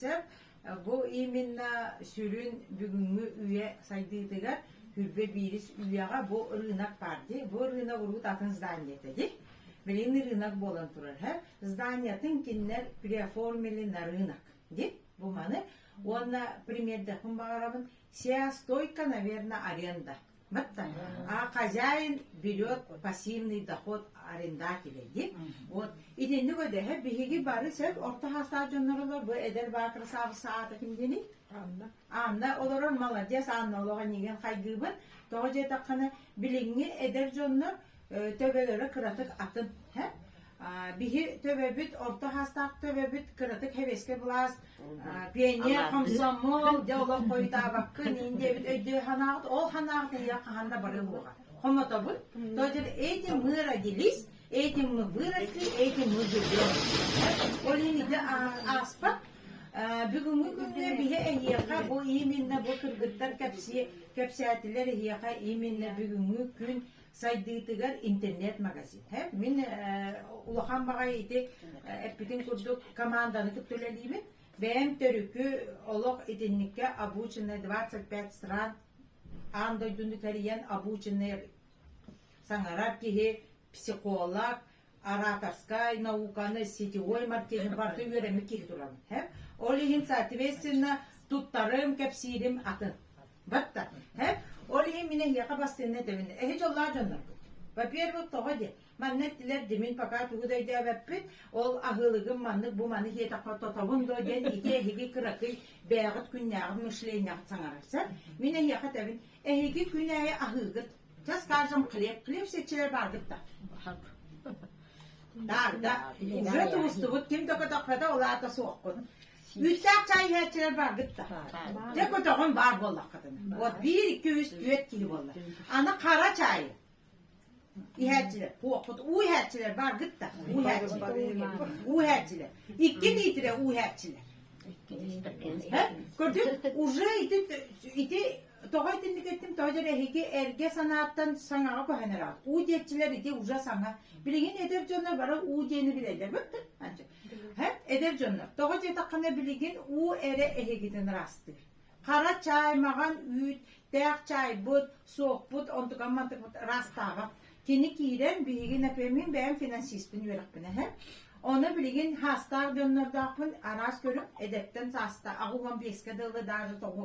сөп. Бу именно сүрүн бүгүҥҥү үйэ сайдыытыгар хүрбэ биирис үйэҕэ бу ырыынак баар дии. Бу ырыынак урут атын зданиета дии. Билин ырыынак буолан турар һэ. Зданиятын киннер приоформили на рынок дии. Бу маны. Уонна примердехпун баҕарабын. Сия стойка, наверное, аренда А хозяин берет пассивный доход арендателя диэн. Вот итинник өдөһө биһиги бары сөп орто хаастаах дьонноролор бу эдэр баакыр саабыс саататын диэни. Анна. Анна олорор молодец Анна олоҕо нигэн хайгыыбын. Тоҕо дьетаххана билиҥҥи эдэр дьоннор төбөлөрө кыратык атын. Һэ? Биһи төбөбүт, орто саастаах төбөбүт кыратык хэбиэскэ былаас, пионер, комсомол, дьэ олох хойутаабаккын, ин диэбит өйдөө санааҕыт, ол санааҕыт ийэ хаһан да бары буолуоҕа. Хомотобут, то есть этим мы родились, этим мы выросли, этим мы живем. Ол иһин ааспат бүгүҥҥү күнгэ биһи эһиэхэ бу именно бу кыргыттар кэпсии кэпсээтилэр эһиэхэ именно бүгүҥҥү күн Сайдыытыгар интернет-магазиҥҥа мин улахан маҕай ити эппитин курдук команданы кытта үлэлиибин. Бэйэм төрүкү олох итинникке обученная 25 стран аан дойдуну тэрийэн обученный саҥарар киһи, психолог, ораторскай науканы, сетевой маркетинг барыта үөрэммит киһи туран. Ол иһин, соответственно, туттарым, кэпсиирим атын. Батта. Ол иһин мин эһиэхэ бастыынна тэбин. Эһи дьоллаа дьоннорбут. Во-первых, тоҕо диye, манна эттилэр димин пока тугу да өйдөөбөппүт, ол аһылыгым маннык бу маны хиэтахха тотобун до диэн ити эһиги кыракый бэйэҕит күннээҕит мышлениеҕит саҥарарсар. Мин эһиэхэ тэбин, эһиги күнээйи аһыыгыт Дьас каждым хлеб, хлеб сечилэр баардык да. Таарда, уже тумустубут, ким да көтөхпөтө улаата суоххун. Үүттээх чай иһээччилэр баардык да. Дьэ көтөҕүн баар буоллаххытын. Вот биир, iki, үс, түөрт киһи боллар. Аны қара чай иһээччилэр, пуохпут уу иһээччилэр баардык да. Уу иһээччилэр. Уу иһээччилэр. Икки диитирэ уу иһээччилэр. Көрдün, уже ити, ити Тоҕо итинник эттим, тоҕо диэн эһиги эргэ санааттан саҥаҕа көһөн эрэҕит. Уу диэччилэр ити ужа саҥа. Билигин эдэр дьоннор бары уу диэни билэллэр. Бөппүт анча. Хэт эдэр дьоннор. Тоҕо диэтэххинэ билигин уу эрэ эһигитин ыраастыыр. Хара чаай, маҕан үүт, тээх чаайбыт, суохпут, онтукам мантыкпыт ыраастаабат. Кини киирэн биһиги например бэйэм финансиспын үөрэхпин эһэ. Оны билигин хаастаах дьоннордоохпун араас көрүҥ эдэттэн сааста аҕуһан биэскэ дылы даары тоҕу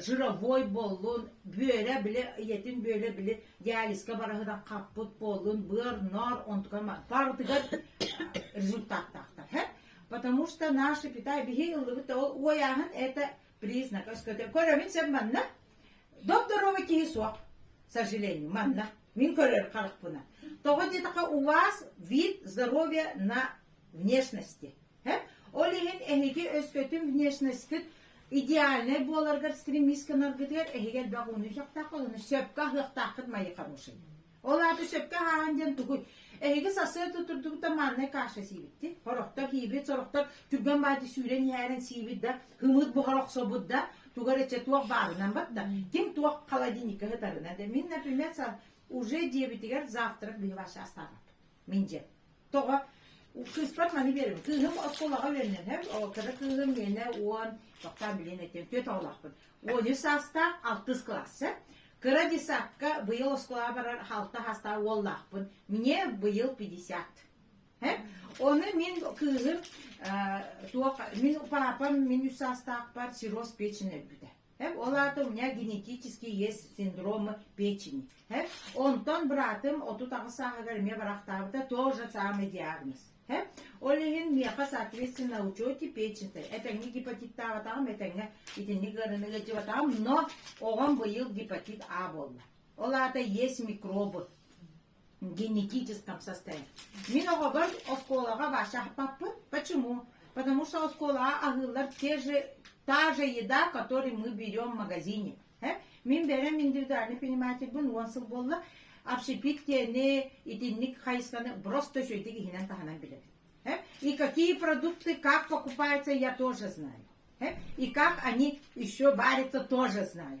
сыромой буоллун, бүөлэ били, ийэтин бүөлэ били диализка бараһынан хаппыт буоллун, быар, ноор, онтукан баартыгар результаттаахтар. Потому что наши Китай биһи ыллыбыт ол уойааһын это признак. Көрөмүн сен манна доп здоровый киһи суох, сожалению, манна. Мин көрөр харахпына. Тоҕо диэтаха у вас вид здоровья на внешности. Ол иһин эһиги өскөтүн внешностьгыт идеальнай буоларгар стремисканаргытыгар эһиги элбэх уунуйсахтаах олону сөпкө аһыахтааххыт майы хороший. Ол аата сөпкө ааһан диэн тугуй? Эһиги сарсыарда утурдубут да мааннай кааша сиибитти. Хороктор хийбит, сороктор түргэн баати сүүрэн иһээрэн сиибит да, хымыт бұхар оқсобут да, тугар эче туох баарынан бат да, ким туох холодильника хытарына да. Мин, например, уже диебитигер завтра били ваша остават. Миндьэ. Тоҕо? Кыыспар маны биэрим. Кыыһым оскуолаҕа үөрэнэн ол кыра кыыһым миэнэ уон, тоқтаан билиэн этим, түөрт оҕолоохпун. Он үс саастаах, алтыс кылаасса. Кыра десятка быйыл оскуолаҕа барар алта саастаах уоллаахпын. Мне быйыл пятьдесят. Оны мен кыыһым туох мин папам мен үс саастаахпар сироз печень өлбүтэ Һэм ол аата у меня генетический есть синдром печени. Һэм онтон быраатым отут аҕыс сааһыгар эмиэ барахтаабыта тоже самый диагноз. Һэм ол иһин миэхэ соответственно учете печеньтэ этэҥҥэ гепатиттаабатаҕым этэҥҥэ итинник ыарыныгы дьыбатаҕым но оҕом быйыл гепатит А буолла. Ол аата есть микробы генетическом составе. Мин оҕобор оскуолаҕа Вася аппаппыт. Почему? Потому что оскуолаҕа аһыыллар те же, та же еда, которую мы берем в магазине. Мин берем индивидуальный понимательбын уон сыл буолла. Общепит тени, итинник хайысканы просто сөйтик иһинэн таһынан билэбин. И какие продукты, как покупаются, я тоже знаю. И как они еще варятся, тоже знаю.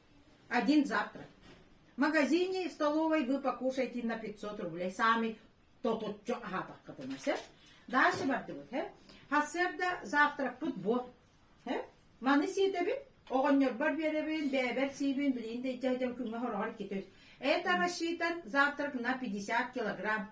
Один завтрак. В магазине и в столовой вы покушайте на 500 рублей. Сами то тутчу аһаатаххытына сөп. Дальше бардыбыт, хэ. Хассыарда завтракпыт бу. Хэ. Маны сиэтэбин, оҕонньорбор биэрэбин, бэйэбэр сиибин, билин да итэ дьон күҥҥэ хороҕор китүс. Это рассчитан завтрак на 50 килограмм.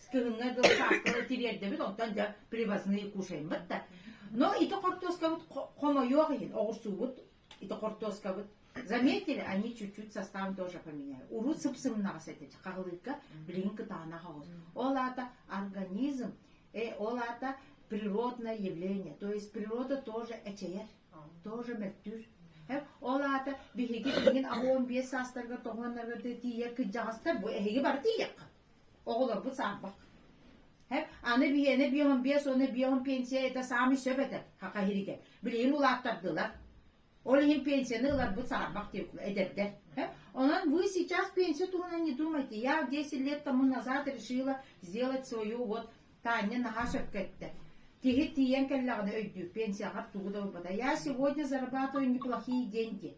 Скрынҥа дьон сааскылары тириэрдэбит, оттон дьэ привозные кушаеммыт да. Но ити хортуоскабыт хомойуох иһин оҕурсуубут ити хортуоскабыт. Заметили, они чуть-чуть состав тоже поменяли. Урут сыпсымнаҕас этэ хаһылыыкка билигин кытаанах оҕус. Ол аата организм, э, ол аата природное явление. То есть природа тоже эчэйэр, тоже мөлтүүр. Ол аата биһиги билигин аҕа он биэс саастарга тоҕуоннарга тиийэ кыдьаҕастар бу эһиги бар тиийэххэ. Оҕолорбут саарбах. Һэп, аны биһиэнэ биэһин биэс уонна биэһин пенсияйда саамай сөп этэ, хахаһирикэ. Билигин улааттардылар. Ол иһин пенсияны ыларбыт саарбах эдэрдэр. Һэп, онон вы сейчас пенсию туһунан не думайте. Я десять лет тому назад решила сделать свою вот Таня наһаа сөп кэттэ. Киһи тиийэн кэллэҕинэ өйдүүр, пенсияҕар тугу да ылбата. Я сегодня зарабатываю неплохие деньги.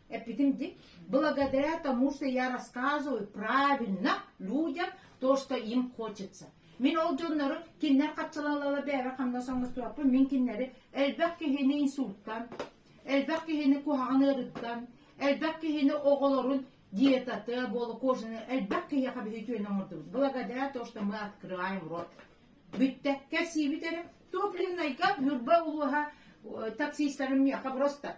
Эппитим ди, благодаря тому, что я рассказываю правильно людям то, что им хочется. Мин ол дьоннору киннер хаччалалала бэбэ ханна соңустураппын мин киннери элбэх киһини инсулттан, элбэх киһини куһаҕан ырыттан, элбэх киһини оҕолорун диетаты болу кожаны элбэх киһиэхэ биһи түйөн оҥордубут. Благодаря то, что мы открываем рот. Бүтте кэрсиибит эрэ топлиннайга ньурба улуһа таксистарын миэхэ просто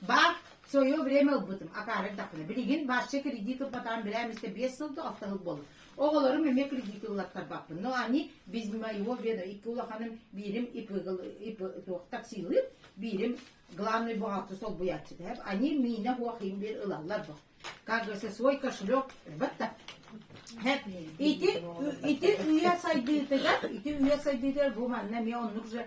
Баар свое время ылбытым, акаарык тахпына. Билигин бачча кредит ылбатаан билээм истэ биэс сыл да авто ылбалым. Оҕолорум эмиэ кредит ыллаттарбаппын. Но они без моего ведра икки улаханым биирим ИП таксилыып, биирим главный бухгалтер солбуйааччы дэһэп. Они миинэ хуахим бир ылаллар бу. Как говорится, свой кошелек бытта. Ити ити үйэ сайдыытыгар, ити үйэ сайдыытыгар бу манна эмиэ оннук же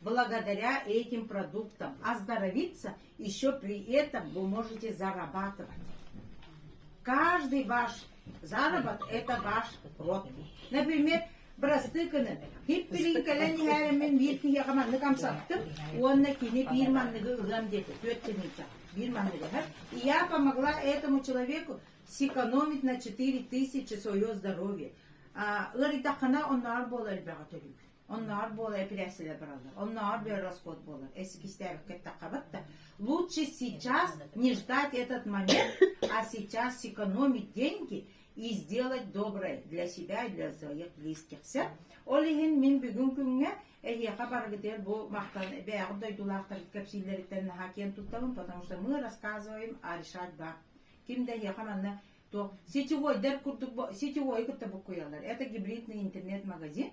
Благодаря этим продуктам оздоровиться еще при этом вы можете зарабатывать. Каждый ваш заработок – это ваш род. Например, бырастыыкыны хиппилин кэлэн иһээримин биир киһиэхэ маннык амсаттым уонна кини биир манныгы ылыам диэки түөрт тенница биир манныгы иһэр и я помогла этому человеку сэкономить на четыре тысячи свое здоровье а, ыарыйтаххына оннооҕор буола элбэҕи төлүүр Онноор буола эпиляциялар бараллар. Онноор бер расход буолар. Если кистээбекке тақабат да, лучше сейчас не ждать этот момент, а сейчас сэкономить деньги и сделать доброе для себя и для своих близких. Ол иһин мин бүгүн күҥҥэ эһиэхэ барыгытыгар бу махтан бэйэҕит дойдулаахтаргыт кэпсииллэриттэн наһаа киэн туттабын, потому что мы рассказываем, а решать да. Ким да эһиэхэ манна то сетевой дэр курдук сетевой кытта буккуйаллар. Это гибридный интернет-магазин.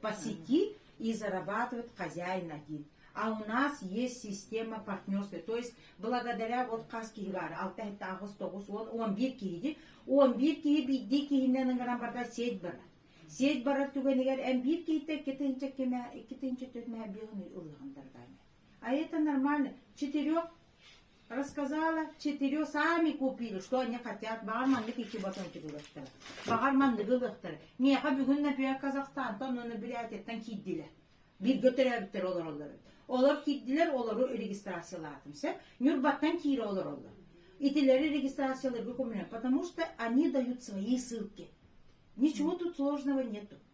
По сети и зарабатывать хозяина диит. А у нас есть система партнерства. То есть благодаря вот хас киһи баар 69 уон 11 киһи 11 киһи биирдии киһинэн ыҥыран барда сеть барар. Сеть барар түгэнигэр эн биир киһитэ иккитинчи кимэ иккитинчи түһмэ биылын ылыган А это нормально. Четырех рассказала, четырех сами купили, что они хотят. Баҕар маннык икки батончик ылыттар. Баҕар манныгы ылыттар. Миэхэ бүгүн например Казахстантан оны Билятиттан киирдилэр. Биргэ төрөөбүттэр олороллор. Олор киирдилэр, олору регистрациялаатым. Сэ Нюрбаттан киире олороллор. Итилэри регистрацияларга көмүлэн, потому что они дают свои ссылки. Ничего тут сложного нету.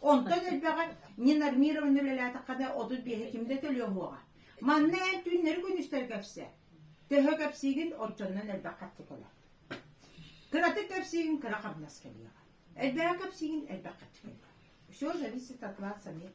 Онтон элбэҕэ Нина Армировна үлэлээтэххэ да отут биэһэ ким да төлүө уоҕа. Манна эн түүннэри күнүстэр кэпсэ. Төһө кэпсиигин оччоннон элбэх хаччы кэлэр. Кыратык кэпсиигин кыра хамнас кэлиэҕэ. Элбэҕи кэпсиигин элбэх хаччы кэлиэҕэ. Все зависит от вас самих.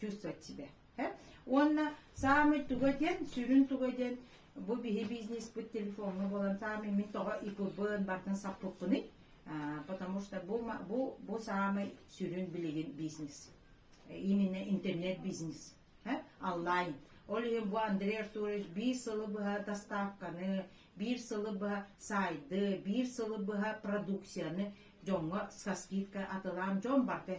чувствовать Уонна саамай туга диэн, сүрүн туга диэн, бу биһи бизнеспыт телефоҥҥа буолан саамай мин тоҕо икыбын бартан саппыппыный, потому что бу, бу, бу саамай сүрүн билигин бизнес. Именно интернет-бизнес, онлайн. Ол иһин бу Андрей Артурович биир сылы быһа доставканы, биир сылы быһа сайды, биир сылы быһа продукцияны дьоҥҥо со скидка атылаан дьон барда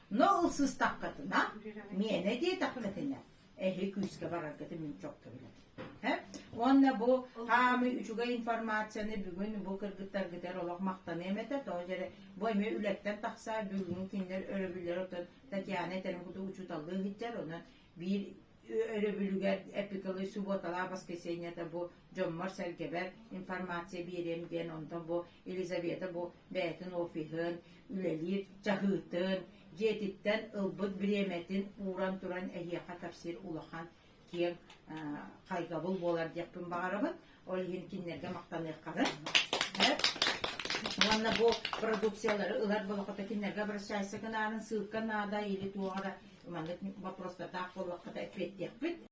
Но ылсыстаххытына, миэнэ диэтэххитинэ, эһи күүскэ бараргытын мин çok көбүлөт. Уонна бу хаамы үчүгэй информацияны бүгүн бу кыргыттаргыт эр олох махтаныам этэ, тоҕо дьэрэ бу эми үлэттэн тахса бүгүн кинилэр өрөбүллэр отон Татьяна этэрин куту учуталлыы иһиттэр, оны биир өрөбүлүгэр эпикалы субуоталаах воскресеньета бу дьоммор-сэргэбэр информация биэриэм диэн онтон бу Елизавета бу бэйэтин офиһын үлэлиир чаһыытын дьиэтиттэн ылбыт бириэмэтин ууран туран эһиэхэ кэпсиир улахан киэҥ хайгабыл буолар диэхпин баҕарабын Ол иһин кинилэргэ махтаныахханын сөп. Уонна бу продукциялары ылар болохото кинилэргэ обращайся гынарын ссылка наада или туоҕа да маннык вопростатаах боллоххото эппиэттиэхпит.